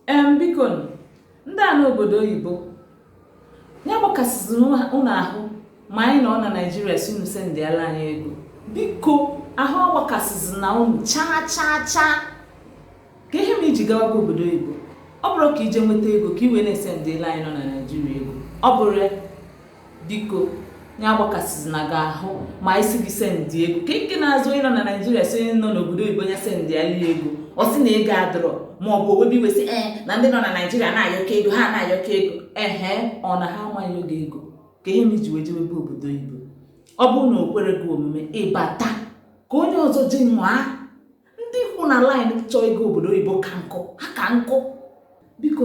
em biko ndị a nọ obodo oyibo ya agbakasịzi unu ahụ ma anyị nọ na naijiria sị unu sendịala anyị ego biko ahụ agbakasịzina unu chaa chaa chaa ka ihe me i ji gawabu obodo oyibo ọ bụrọ ka i je nweta ego ka i wee na-esendịla anyị nọ na naijiria ego ọ bụrọ ya biko ya agbakasịzina gị ahụ ma anyị sị gị sendị ego ka nke na-azụ onye nọ na naijiria sị onye nọ n'obodo oyibo ya sendịala ya ego ọ sị na ego adịrọ ma ọ bụ o webe iwe sị ee na ndị nọ na naijiria na-ayọka ego ha na-ayọka ego ehe ọ na ha ama ayọ gị ego ka ihe me i ji wee jewebe obodo oyibo ọ bụrụ na o kwerọ gị omume ị bata ka onye ọzọ jenwaa ndị kwụ na laịn chọ ịga obodo oyibo ka nkụ ha ka nkụ biko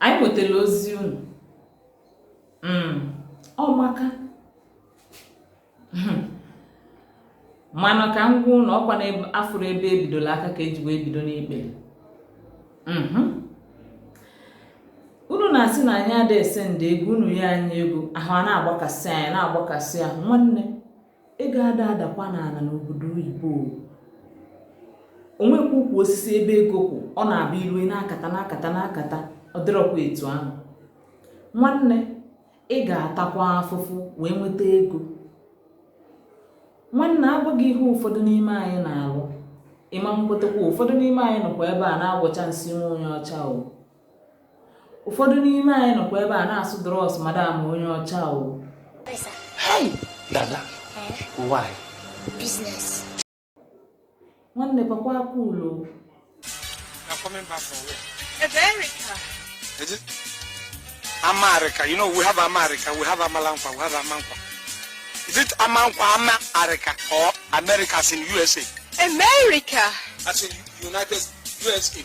anyị nwetara ozi unu hmm, ọmaka hmm. mana ka m gwa unu ọkwa na afụrọ ebe ebidola aka ka eji wee bido n'ikpele hmm. unu na-asị na anyị ada esendị ego unu yọ anyị ego ahụ a na-agbakasị anyị na-agbakasị ahụ nwanne ego ada adakwa n'ala n'obodo oyibo o nwekwa ukwu osisi ebe ego kwụ ọ na-abụ i lu ị na-akata na-akata na-akata ọ dịrọkwa etu ahụ nwanne ị ga-atakwa afụfụ wee nweta ego nwanne a gwa gị ihe ụfọdụ n'ime anyị na-alụ ị ma-ekwetakwa ụfọdụ n'ime anyị nọkwa ebe a na-agwọcha nsị nwa onye ọcha o ụfọdụ n'ime anyị nọkwa ebe a na-asụ drọs madam onye ọcha o dada why business nwanne papa aka ụlọ America, you know, we have America, we have Amalanfa, we have Amankwa. Is it Amankwa, America, or America as in USA? America! As in United USA.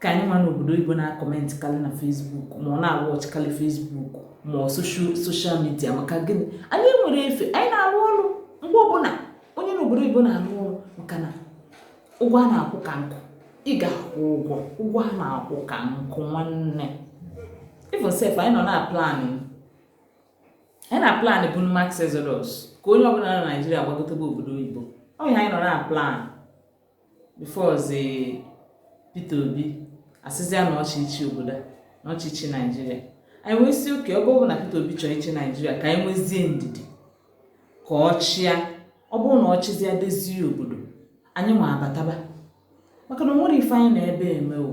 ka anyị nwa n'obodo oyibo na-akọmentị karị na fesbuk ma ọ na-awọchị karị fesbuk ma ọ soshal midia maka gịnị anyị enwerọ efe anyị na-arụ ọrụ mgbe ọbụla onye n'obodo oyibo na-arụ ọrụ maka na ụgwọ a na-akwụ ka nkụ ị ga-akwụ ụgwọ ụgwọ a na-akwụ ka nkụ nwanne even sef anyị nọ na-aplan anyị na-aplan bụ mass exodus ka onye ọbụla na naijiria gbagotabe obodo oyibo ọ ihe anyị nọ na-aplan bifọzi Peter Obi asịzịa na ọ chọ ịchị obodo na ọ chọ ịchị Naijiria anyị wee sị oke ọ bụrụ na Peter Obi chọrọ ịchị Naijiria ka anyị nwezie ndidi ka ọ chịa ọ bụrụ na ọ chịzịa dezie obodo anyị nwa abataba maka na o nwerọ ife anyị nọ ebe a eme o